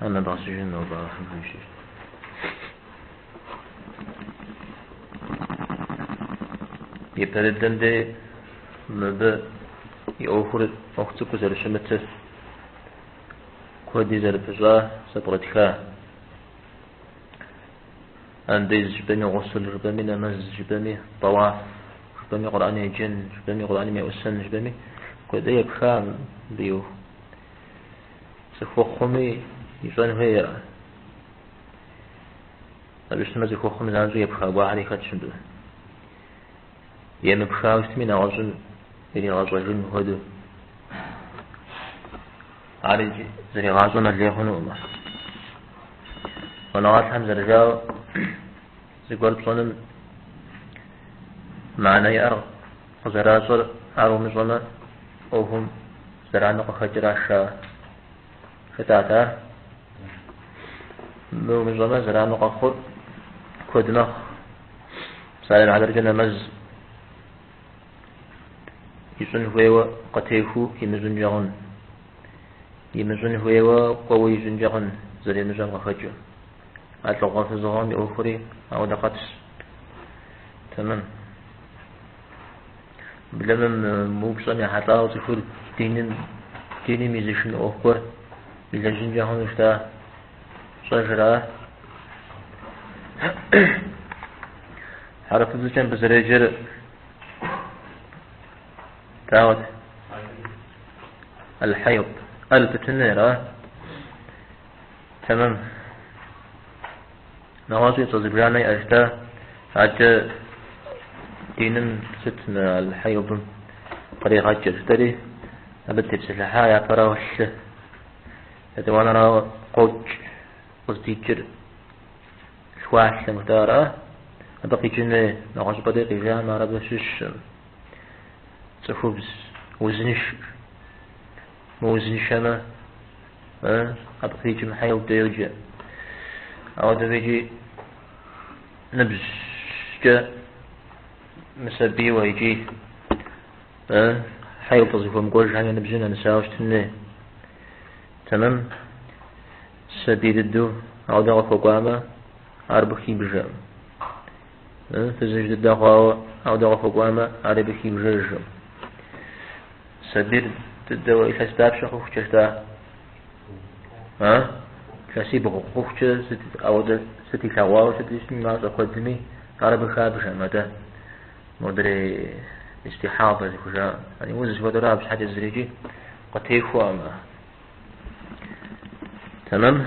Анэ дгъэсыжын нобэ Алыхьым хуищӏыщ. Япэ дыдэм дей мыбы и ӏуэхур ӏуэху цӏыкӏу зэрыщымытыр, куэди зэрыпыщӏа зэпкърытха. Андез жыпӏэми гъусул жыпӏэми, нэмэз жыпӏэми, тӏэуаф жыпӏэми, Къурӏан еджэн жыпӏэми, Къурӏаным еӏусэн жыпӏэми, куэди епха мыбы и ӏуэху. Цӏыхухъуми ищӏэн хуейщ. Абы щытмэ, цӏыхухъум занщӏэу епха гуэрхэри хэтщ мыбы. Емыпхауэ щытми, нэгъуэщӏым иригъэщӏэжын хуэдэу. Ар иджы зригъащӏэмэ лей хъунукъым. Щӏэныгъэлӏхэм зэрыжауэ, зыгуэр пщӏэным мыхьэнэ иӏэр къызэращӏэр ар умыщӏэмэ, ӏуэхум Зэранэу къыхэкӏыращ ар. Жытӏат ар. Мы умыщӏэмэ зэранэу къэхъур куэд мэхъу. Псалъэм и хьэтыркӏэ нэмэз ищӏын хуейуэ къытехыу имыщӏынкӏэ хъун. Имыщӏын хуейуэ кӏуэуэ ищӏынкӏэ хъун, зэримыщӏэм къыхэкӏыу. А лӏыгъэ-фызыгъэм и ӏуэхури ауэдэ къабзэщ. Тэмэм. Блэмэм мы упщӏэм ехьэлӏауэ цӏыхур диным, диным и зы шынэ ӏуэху гуэр илэжьынкӏэ хъуну щыта щӏэжра? Хьэрыпыбзэкӏэ мыбы зэреджэр дауэт? Аль-Хьайд. Аль тутыныр, а? Тэмэм. Нэгъуэщӏи цӏэ зыбжанэ иӏэжщ дэ адэкӏэ диным сыт мы аль-хьейдым къригъэкӏыр, дэри абы дытепсэлъыхьа япэрауэ лъы етӏуанэрауэ къокӏ къыздикӏыр лъхуалъэм жытӏа ара? Абы къикӏын хуей нэгъуэщӏыпӏэ дей къижамэ ар абы щыщкъым цӏыхубз узыншэ. Мы узыншэмэ, ы, абы къикӏым хьейд деуджэ. Ауэдэу икӏи ныбжькӏэ мысабийуэ икӏи ы, хьейд къызыхуэмыкӏуэжхэм я ныбжьым нэмысауэ щытын хуей. Тэмэм, сабий дыдэу ауэдэ къыхуэкӏуамэ, ар абы хибжэкъым. Фызыжь дыдэ хъуауэ аудэ къыхуэкӏуамэ, ари абы хибжыжкъым. Сабийр дыдэуэ илъэс дапщэ хъухукӏэт? А? Илъэсибгъу хъухукӏэ сыт аудэ сыт илъэгъуауэ сыт ищӏми мащӏэ куэдми, ар абы хабжэм, атӏэ. Модрей истихьадэ зыхужаӏэ. Яни уз зыхуэдэрэ абы щхьэкӏэ зырикӏи къытехуэкъым. Тэмэм?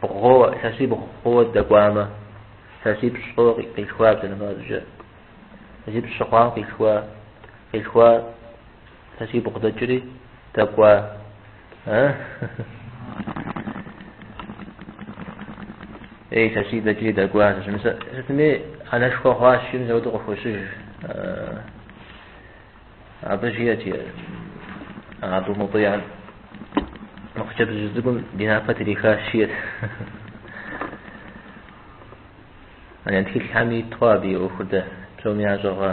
Бгъууэ, илъэсибгъууэ дэкӏуамэ, илъэсипщӏу къилъхуа бжьыныфӏэбжьэ, илъэсипщӏ щыхъуам къилъхуа, къилъхуа, илъэсибгъу дэкӏри, дэкӏуа. Ей, илъэси дэкӏри дэкӏуа, сытми анэшхуэ хъуащ, ин зэуду къыхущыж. Абы жиӏэти Абу Мутӏиам, мы хъыджэбзыжь цӏыкӏум ди напэ трихащ, жиӏэт. Яни тхылъхэми иту абы и ӏуэхур дэ псоми ящӏэ хъуа.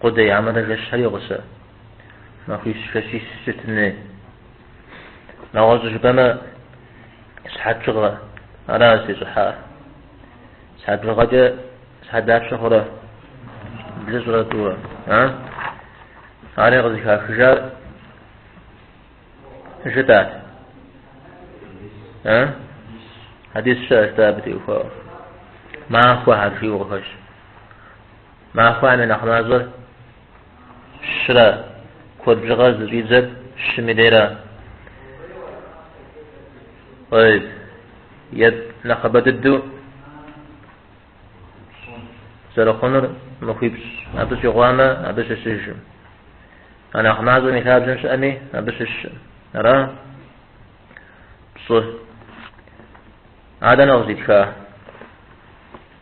Къудей армырэ жэщхэри гъусэ махуищ жэщищ щытын хуей. Нэгъуэщӏу жыпӏэмэ, сыхьэт бжыгъэ ара зыщӏыхьар. Сыхьэт бжыгъэкӏэ сыхьэт дапщэ хъурэ блыщӏрэ тӏурэ, а? Ари къызыхахыжар жытӏат. А? Хьэдис щыӏэщ дэ абы теухуауэ. Махуэхэр жиӏэу къыхэщ. Махуэм и нэхъ мащӏэр щырэ куэд бжыгъэр зыщӏидзэр щым и дейрэ е нэхъыбэ дыдэу зэрыхъунур махуипщӏ абы щӏигъуамэ, абы щыщыжым. А нэхъ мащӏэм и лъабжьэм щыӏэми, абы щыщым. Ара пщӏы а дэнэ къыздитха?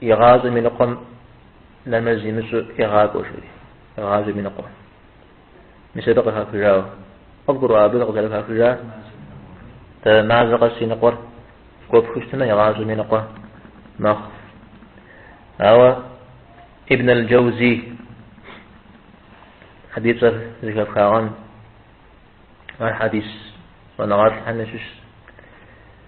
Игъащӏэм и ныкъуэм нэмэз имыщӏу егъакӏуэ, жери. Игъащӏэм и ныкъуэм. Мис абы къыхахыжауэ. Къывгурыӏуа абы къызэрыхахыжа? Дэ мазэ къэс и ныкъуэр гуэпхыу щытмэ, игъащӏэм и ныкъуэ мэхъу. Ауэ Ибн аль-Джаузи абы и цӏэр зэхэфхагъэн ар хьэдис щӏэныгъэлӏхэм ящыщ.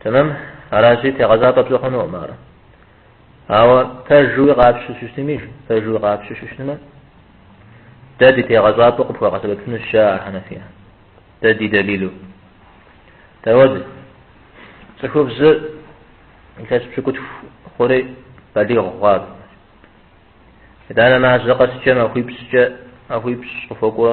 Тэмэм, аращи, тегъэщӏапӏэ пщӏы хъунукъым ар. Ауэ пэжуи къапщтэу щытми, пэжуи къапщтэу щытмэ, дэ ди тегъэщӏапӏэу къыпхуэгъэсэбэпыну щыӏэ а Хьэнэфия, дэ ди дэлилу. Дауэт, цӏыхубзыр илъэс пщыкӏутху хъури балигъ хъуа. Итӏанэ мазэ къэскӏэ махуипщӏкӏэ махуипщӏ къыхуокӏуэ.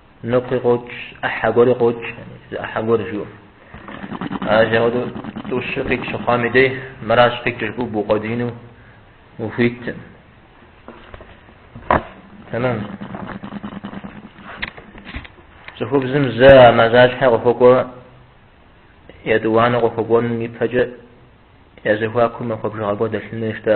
Ныкъуи къокӏ, ӏыхьэ гуэри къокӏ, зы ӏыхьэ гуэр жиӏэу. Ажэ хуэдэу тӏущу къикӏ щыхъуам и дей, мыращ къикӏ жыпӏэу букъуэдиину ухуиткъым. Тэмэм. Цӏыхубзым зэ а мазащхьэ къыхуэкӏуэ, етӏуанэу къыхуэкӏуэнум ипэкӏэ я зэхуакум махуэ бжыгъэ гуэр дэлъын хуей щта?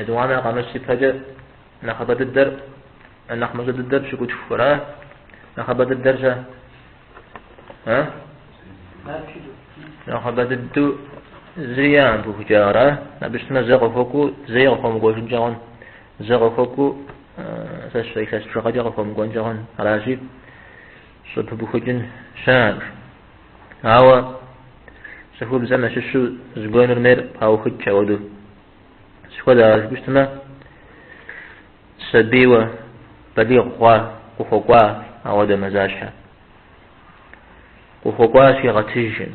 Етӏуанэ къэмыс ипэкӏэ нэхъыбэ дыдэр, нэхъ мащӏэ дыдэр пщыкӏутхура? Нэхъыбэ дыдэр щэ? А? Нэхъыбэ дыдэу зыри яӏэм пыухыкӏауэ ара? Абы щытмэ зэ къыхуэкӏуу зэи къыхуэмыкӏуэжынкӏэ хъун. Зэ къыхуэкӏуу сэ сщӏэ илъэс бжыгъэкӏэ къыхуэмыкӏуэнкӏэ хъун. Аращи, щӏыпыбухыкӏын щыӏэкъым. Ауэ цӏыхубзхэм ящыщу зыгуэрым ейр паухыкӏ ауэду. Сыт хуэдэ ар жыпӏэу щытмэ, сабийуэ балигъ хъуа, къыхуэкӏуа ауэдэ мазащхьэ. Къыхуэкӏуа щигъэтыжым,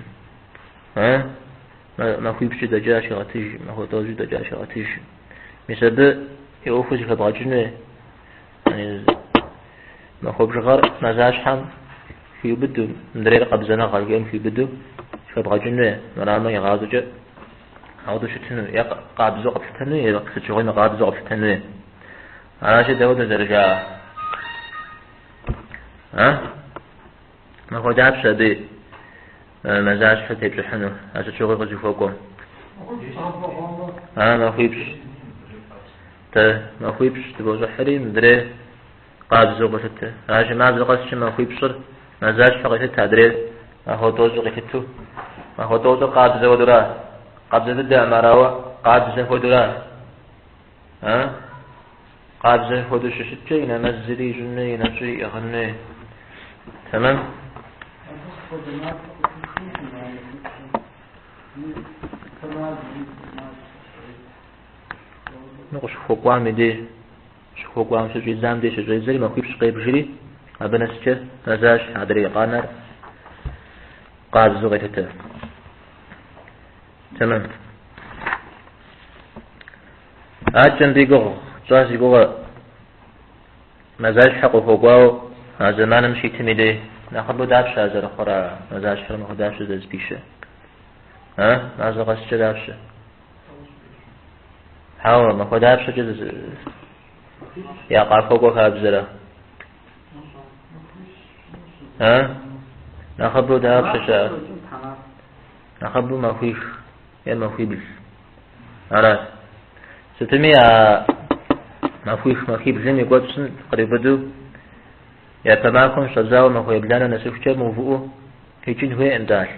а? Махуипщӏкӏэ дэкӏа щигъэтыжым, махуэ тӏощӏкӏэ дэкӏа щигъэтыжым. Мис абы и ӏуэхур зэхэбгъэкӏынуи, махуэ бжыгъэр мазащхьэм хиубыду, мыдрейр къабзэныгъэ жиӏэм хиубыду зэхэбгъэкӏынуи, мрамэ игъащӏэкӏэ Ауэду щытыну е къабзэу къэплъытэну е сыт щыгъуи мыкъабзэу къэплъытэну. Аращи дауэдэ зэрыжаӏэр. А? Махуэ дапщэ абы мазащхьэ тепщӏыхьыну, а сыт щыгъуи къызыхуэкӏуэм. А махуипщӏ. Тэ махуипщӏ тыбощӏыхьри мыдрей. Къабзэу къыболъытэ. Ажэ мазэ къэскӏэ махуипщӏыр мазащхьэу къелъытэ адрейр махуэ тӏощӏыр къилъыту. Махуэ тӏощӏыр къабзэ хуэдэура? Къабзэ дыдэ армырауэ къабзэ хуэдэура? А? Къабзэ хуэдэу щыщыткӏэ и нэмэзри ищӏын хуей, и нэщӏи иӏыгъын хуей. Тэмэм? Ну, къыщыхуэкӏуам и деж. Щыхуэкӏуам щыщӏидзам деж щыщӏедзэри махуипщӏ къебжри, абы нэскӏэ мазащхьэ, адрей къанэр къабзэу къелъытэ. Тэмэм. Акӏэм ди гугъу тщӏа зи гугъэ мазащхьэ къыхуэкӏуауэ а зэманым щитым и дей нэхъыбэу дапщэ а зэрыхъур а мазащхьэр махуэ дапщэ зэзыпищэ? А? Мазэ къэскӏэ дапщэ? Хьэуэ, махуэ дапщэкӏэ я къахуэкӏуэ хабзэрэ? А? Нэхъыбэу дапщэ щыӏэ? Нэхъыбэу махуих е махуибл. Арат. Сытми а махуих махуиблым и кӏуэцӏым къриубыду япэ махуэм щӏэдзауэ махуэ ебланэ нэсыхукӏэ мыувыӏэу къикӏын хуейкъым-тӏэ лъы.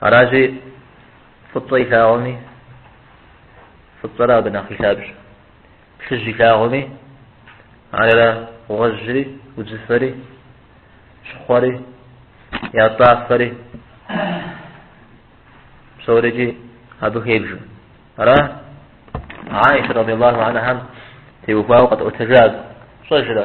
Аращи, фӏыцӏэ илъагъуми, фӏыцӏэрэ абы нэхъ и лъабжьэ. Плъыжь илъагъуми, ара гъуэжьри, удзыфэри, щхъуэри, ятӏафэри, псорикӏи абы хебжэ. Ара Аиша радиаллаху анхам теухуауэ къэтӏуэтэжар фщӏэжрэ?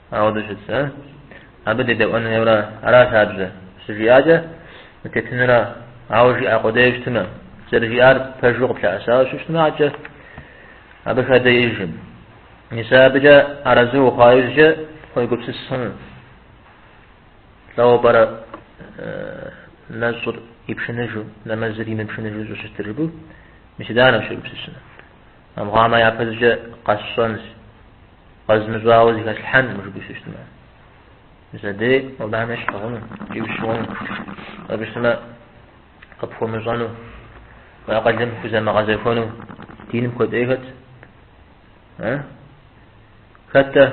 Ауэдэу щыт, а? Абы дедэӏуэн хуейуэ ара, аращ хабзэр? Щыжиӏакӏэ, дытетынура? Ауэ жиӏа къудейуэ щытмэ, зэрыжиӏар пэжу къыплъэӏэсауэ щыщытмэ, акӏэ абы хадэ иӏэжкъым. Мис абыкӏэ арэзы ухъуа иужькӏэ уегупсыс хъуну. Лӏэуэ пӏэрэ нэщӏыр ипшыныжу, нэмэзыр имыпшыныжу щӏыщытыр жыпӏэу? Мис иданэщ ущегупсысынур. Армыхъуамэ, япэщӏыкӏэ къэсщӏэнщ. Къэзмыщӏауэ зыхэслъхьэнкъым жыпӏэу щыщытмэ. Зэдей Алыхьмэ щыгъыну икӏи ущыгъыну. Абы щытмэ, къыпхуэмыщӏэну, уи акъылым хузэмыгъэзэхуэну диным куэдыкӏей хэт? Э? Хэт-тӏэ?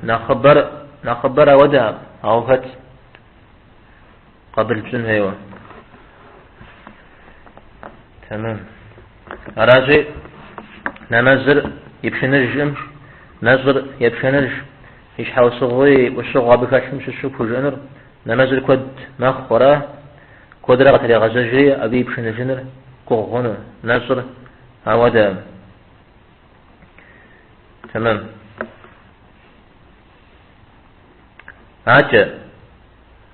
Нэхъыбэр, нэхъыбэр ауэдэкъым, ауэ хэт? Къабыл пщӏын хуейуэ. Тэмэм. Аращи, нэмэзыр ипшыныжкъым, нэщӏыр епшыныж, и щхьэусыгъуи, ӏущыгъэу абы хэлъым щыщу пхужыӏэнур, нэмэзыр куэд мэхъу, ара? Куэдрэ къытрегъэзэжри абы и пшыныжыныр гугъу хъуну, нэщӏыр ауэдэкъым. Тэмэм. Акӏэ.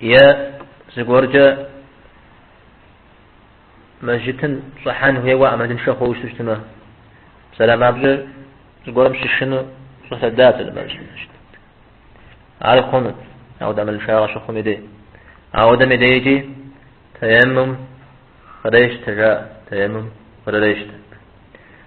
Е зыгуэркӏэ мэжджытым щӏыхьэн хуейуэ ӏэмалыншэ хъууэ ущыту щытмэ, псалъэм папщӏэ зыгуэрым щышынэу щӏэлъэда мэжджытым. Ар хъунут, ауэ ӏэмалыншагъэ щыхъум дей. Ауэдэм дейкӏи таеммум кърещтэ, жаӏэ, таеммум кърырещтэ.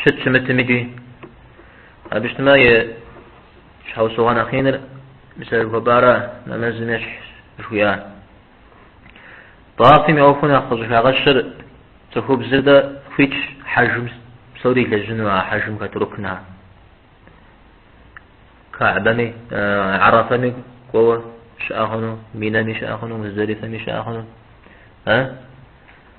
Щыт-щымытми икӏи. Абы щытмэ и щхьэусыгъуэ нэхъ иныр мис а хъыбарра нэмэзым ещхьщ жыхуиӏа. Тӏэуафым и ӏуэхуу нэхъ къыщӏыхагъэщыр цӏыхубзыр дэ хуитщ хьэжым псори илэжьыну а хьэжым хэт рукнхэр. Каабэми, Арафэми кӏуэуэ щыӏэ хъуну, Минэми щыӏэ хъуну, Муздалифэми щыӏэ хъуну.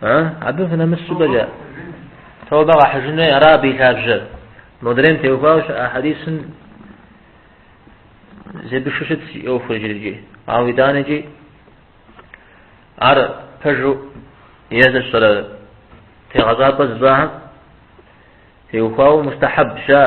А? Абы фынэмыс щӏыпӏэкӏэ, тэубэ къахьыжын хуей ара абы и лъабжьэр? Модрейм теухуауэ щыӏэ хьэдисым зебышу щытщ и ӏуэхур иджыри, ауэ итӏанэкӏи ар пэжу е зыщӏэрэ тегъэщӏапӏэ зыщӏахэм теухуауэ мустахьэб щыӏэ.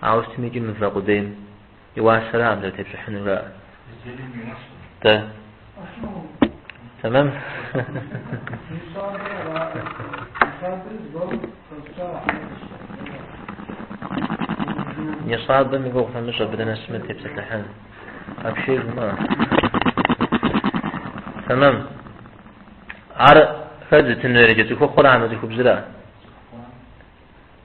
Ауэ сытми икӏи мывэ къудейм и уасэра абы зэрытепщӏыхьынур жаӏэр? Тэ. Тэмэм. Нисабым и гугъу фымыщӏ, абы дынэсмэ дытепсэлъыхьын. Апшей жумыӏэ. Тэмэм. Ар хэт зытынур иджы, цӏыхухъура хьэмэ цӏыхубзра?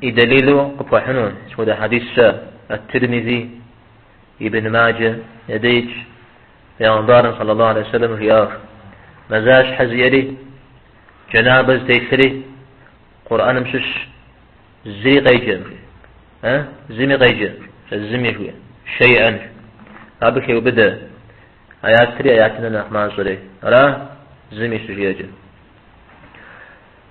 И дэлилу къыпхуэхьыну сыт хуэдэ хьэдисщ Ат-Тирмизи, Ибн Маджэ и дейкӏэ Пэйгъэмбарым саллаллаху алейхи ва сэллэм жиӏар, Мазащхьэ зиӏэри, джанабэ зытелъри Къурӏэным щыщ зыри къеджэм, жи. Э? Зыми къеджэм, жи. Зыми жи. Шейӏэн жи. Абы хеубыдэ. Аятри аятым нэхъ мащӏэри. Ара? Зыми щыжиӏэкӏэ.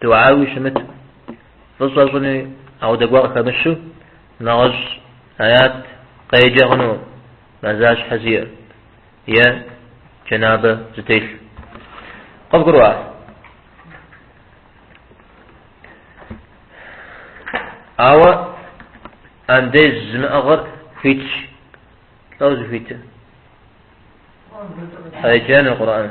Дугьауи щымыт, фӏыщӏэ щӏыни ауэдэгуэ къыхэмыщу, нэгъуэщӏ аят къеджэ хъунум мазащхьэ зиӏэ е джэнабэ зытелъ. Къывгурыӏуа? Ауэ андез зымыӏыгъыр хуитщ, лӏэу зыхуитыр. Къеджэну Къурӏэн.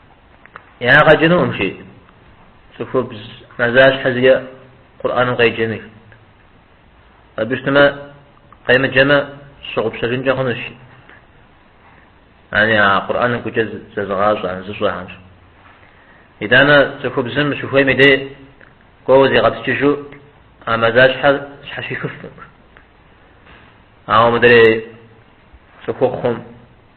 Ягъэ кӏынукъым жи цӏыхубз мазащхьэ зиӏэ Къурӏэным къеджэныр. Абы щытмэ, къемыджэмэ, щыгъупщэжынкӏэ хъунущ. Яни а Къурӏэным гукӏэ зэзыгъащӏэм, зыщӏэхэмщ. Итӏанэ цӏыхубзым щыхуейм и дей кӏуэуэ зигъэпскӏыжу а мазащхьэр щхьэщихыфкъым. Ауэ мыдрей цӏыхухъум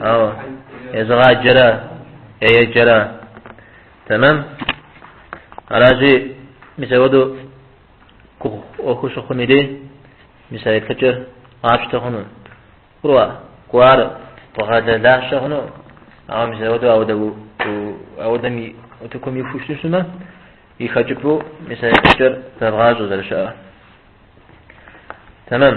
Ау, езыгъаджэрэ, еджэрэ. Тэмэм. Аращи, мис ауэду гугъуехь щыхъум и дей, мис а еплъыкӏэр къапщтэ хъуну. Кӏурэ, кӏуар къугъэлэ лажьэ хъуну, ауэ мис ауэду ауэдэ ауэдэм и утыкум иху щыту щытмэ, и хэкӏыпӏэу мис а еплъыкӏэр зэвгъащӏэ зэрыщыӏэр. Тэмэм.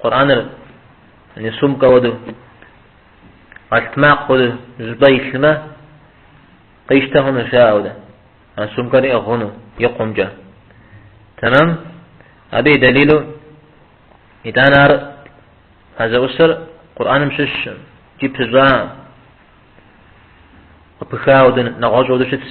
Къурӏэныр яни сумкэ хуэдэу, къэлътмакъ хуэдэу зыпӏэ илъмэ, къищтэ хъуну жаӏэурэ, а сумкэр иӏыгъ хъуну и къумкӏэ. Тэмэм, абы и дэлилу, итӏанэ ар а зэӏусэр Къурӏэным щыщ икӏи пыщӏа, къыпыха хуэдэу, нэгъуэщӏ хуэдэу щытщ.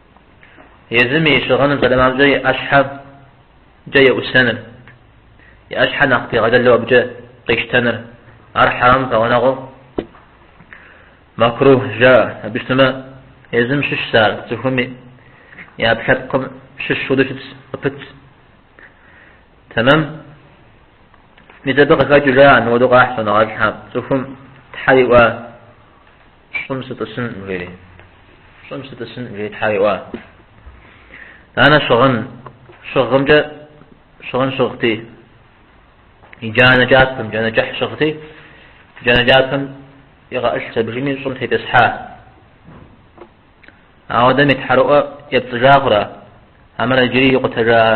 Езым и щыгъыным зэрымамкӏэ и ӏэщхьэкӏэ еӏусэныр, и ӏэщхьэ нэхъ пигъэлэлу абыкӏэ къищтэныр, ар хьэрам пэгъунэгъуу макрухь жаӏэ. Абы щытмэ, езым щыщщ ар, цӏыхуми и ӏэпкълъэпкъым щыщ хуэдэу щытщ, къыпытщ. Тэмэм, мис абы къыхэкӏыу жаӏэ, мыуэду къахь щӏэныгъэлӏхьэ цӏыхум Тхьэр иӏуа Щӏым сытӏысын жери. Щӏым сытӏысын жери Тхьэр иӏуа. Итӏанэ щыгъын щыгъымкӏэ щыгъын щыгъти. И джанэ кӏапэм, джанэ кӏыхь щыгъти. Джанэ кӏапэм игъэӏылъщ абдежми щӏым тетӏысхьа. Ауэдэм и тхьэрыӏуэ епцӏыжа хъура? Амэрэ иджыри икъутэжаӏэ?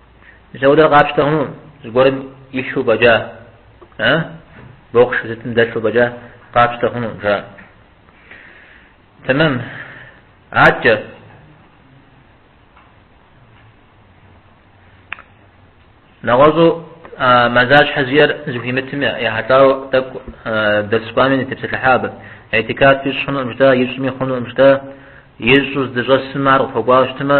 Дауэрэ къапщтэ хъуну зыгуэрым илъу фӏэкӏа, а? Бокс сытым дэлъу фӏэкӏа къапщтэ хъуну, жа. Тэмэм. Аткӏэ. Нэгъуэщӏу мазащхьэ зиӏэр зыхуимытым ехьэлӏауэ тӏэкӏу дерс кӏуами дытепсэлъыхьа абы. Иӏтикаф ищӏ хъунуӏым жытӏа, ищӏми хъунуӏым жытӏа, ищӏу здыщӏэсым ар къыхуэкӏуауэ щытмэ,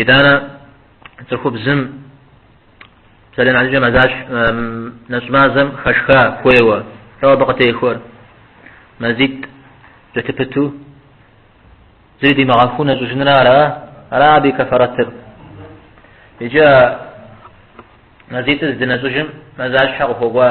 Итӏанэ цӏыхубзым псалъэм щхьэкӏэ мазащ нэщӏмазэм хэшха хуейуэ, лӏо абы къытехуэр. Мазитӏ кӏэлъыпыту зыри димыгъэхуу нэщӏыжынра ара? Ара абы и кэфэрэтыр? Иджы мазитӏыр здынэщӏыжым мазащхьэ къыхуэкӏуа?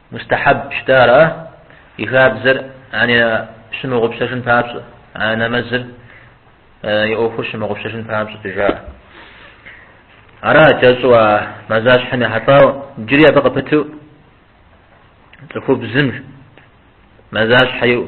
Мустахьэб щытэ ар а и хабзэр яни щымыгъупщэжын папщӏэ, а нэмэзыр и ӏуэхур щымыгъупщэжын папщӏэт жаӏэ. Ара кӏэщӏу а мазащхьэм ехьэлӏауэ джыри абы къыпыту цӏыхубзым мазащхьэ иӏу.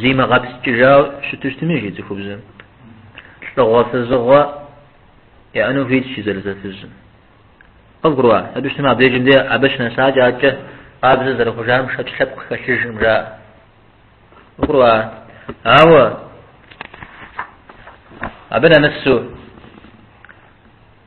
Зимыгъэпскӏыжау щытыщтми жи цӏыхубзым лӏыгъуэ фызыгъуэ яӏэну хуитщ жи зэлӏзэфызым. Къывгурыӏуа? Абы щытмэ, абдежым де абы щынэсакӏэ акӏэ къабзэ зэрыхъужам шэч лъэпкъ хэлъыжым жаӏэ. Къывгурыӏуа? Ауэ абы нэмысу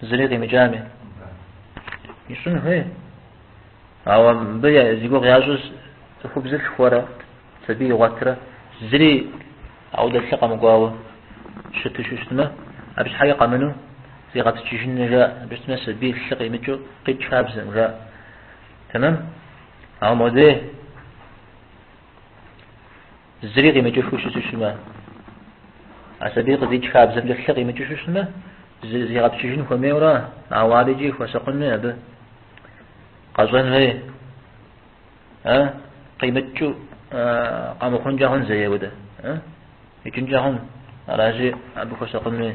Зыри къимыкӏами. Ищӏын хуей. Ауэ мыбы зи гугъу ящӏыр цӏыхубзыр лъхуэрэ, сабий игъуэтрэ, зыри ауэдэ лъы къэмыкӏуауэ щыту щыщытмэ, абы щхьэкӏэ къэмыну зигъэпскӏыжыну жаӏэ, абы щытмэ сабий лъы къимыкӏыу къикӏ хабзэм жаӏэ. Тэмэм? Ауэ модей. Зыри къимыкӏыу щыту щытмэ, а сабийр къызикӏ хабзэмкӏэ лъы къимыкӏыу щытмэ, зигъэпскӏыжын хуэмейуэ ара, ауэ ар иджы хуэсакъынуи абы къэщӏэн хуей, э, къимыкӏыу къэмыхъункӏэ хъун зэи ауэдэ, э, икӏынкӏэ хъун, аращи, абы хуэсакъынуи.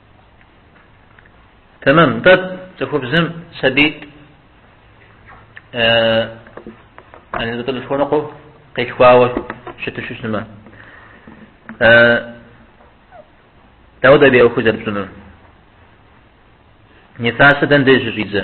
Тэмэм, нтӏэ цӏыхубзым сабиитӏ тӏолъхуэныкъуэ, къилъхуауэ щыту щыщытмэ. Э, дауэ абы и ӏуэху зэрыпщӏынур. Нифасыр дэнэ деж щӏидзэ.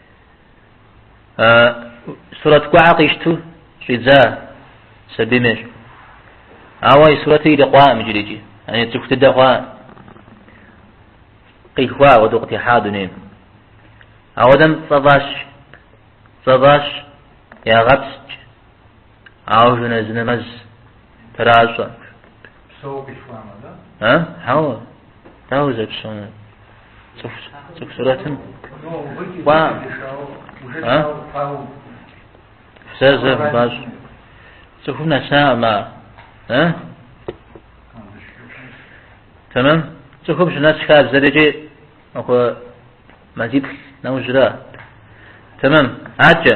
Сурэт кӏуэхьэ къищту щӏидза сабийм ещӏ. Ауэ и сурэтыр ирикъуаӏым иджырикӏи. Яни цӏыху дыдэ хъуа. Къихуа ауэдэу къытехьа дунейм. Ауэдэм цӏэ фӏащ. Цӏэ фӏащ, ягъэпскӏ. Ауэ жэназы нэмэз тращӏэ. Псэуэ къихуамэ, да? А? Хьэуэ. Дауэ зэпщӏэнур? Цӏыху цӏыху сурэтым. Кӏуа. А? Зэ зэ бащ. Цӏыхум нэсакъым а. А? Тэмэм. Цӏыхум щынэс хабзэр икӏи махуэ мазиплӏ нэужьрэ. Тэмэм. Акӏэ.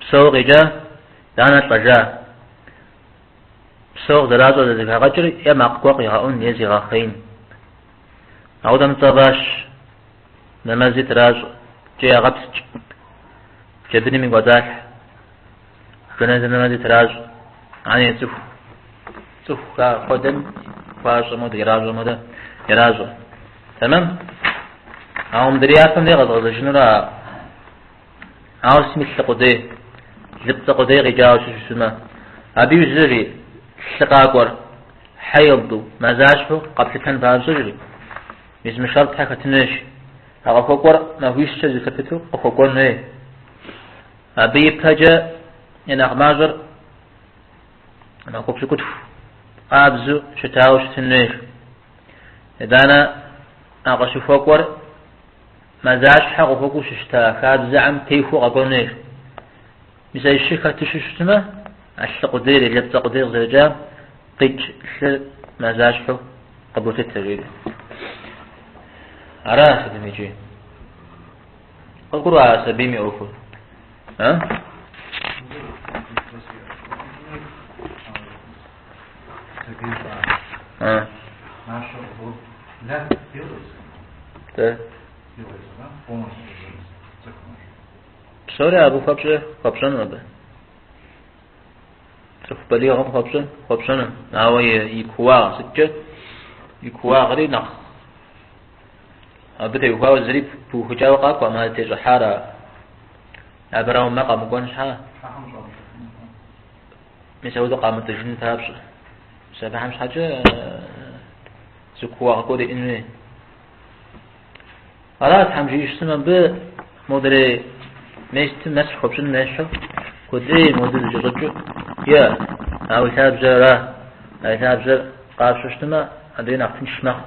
Псэууэ къикӏа, итӏанэ лӏэжа? Псэууэ къызэращӏэр, зэрызэхагъэкӏыр е макъ гуэр къигъэӏун е зигъэхъеин. Апхуэдэм цӏэ фӏащ, нэмэзи тращӏэ, икӏи ягъэпскӏ. Джэбынми кӏуэцӏалъхьэ. Жэнэзы нэмэзи тращӏэ, ани цӏыху. Цӏыху хьэдэм хуащӏэм хуэдэ, иращӏэм хуэдэ иращӏэ. Тэмэм? Ауэ мыдрей япэм деж къэзгъэзэжынурэ Ауэ псэ имылъу лъы къудей, лыпцӏэ къудей къикӏауэ щыщысымэ, абы иужь, жери, лъы къакӏуэр, хьейду, мазащхьэу къэплъытэн папщӏэ, жери, езым шартхэр хэтын хуейщ, а къыхуэкӏуэр махуищкӏэ зэлъыпыту къыхуэкӏуэн хуей. Абы ипэкӏэ и нэхъ мащӏэр махуэ пщыкӏутху къабзу щытауэ щытын хуейщ. Итӏанэ а къыщыхуэкӏуэр Мазащхьэ къыхуэкӏуэу щыщта хабзэхэм техуэу къэкӏуэн хуейщ. Мис а щыр хэту щытмэ, а лъы къудейр е лыпцӏэ къудейр къызэрыкӏам къикӏ лъыр мазащхьэу къыболъытэ, жери. Ара сытми иджы. Къыбгурыӏуа а сабийм и ӏуэхур? А? Псори абы хуэпщӏэ хуэпщӏэну абы. Цӏыху балигъым хуэпщӏэ хуэпщӏэну. Ауэ и кууагъ сыткӏэ и кууагъри нэхъ абы теухуауэ зыри пыухыкӏауэ къакӏуэкъым, а тещӏыхьар абы арауэ, мэ къэмыкӏуэн щхьэ. Мис апхуэдэу къамытӏыжыну папщӏэ, мис абыхэм щхьэкӏэ зы кууагъ гуэр иӏэн хуей. Ара Тхьэм жиищым абы модрей местым нэс хуэпщӏын нещэу, куэдей модрей зыкӏэщӏэкӏыу, е, а уи лъабжьэр ара, а и лъабжьэр къапщу щытмэ, абыи нэхъ тынш мэхъу.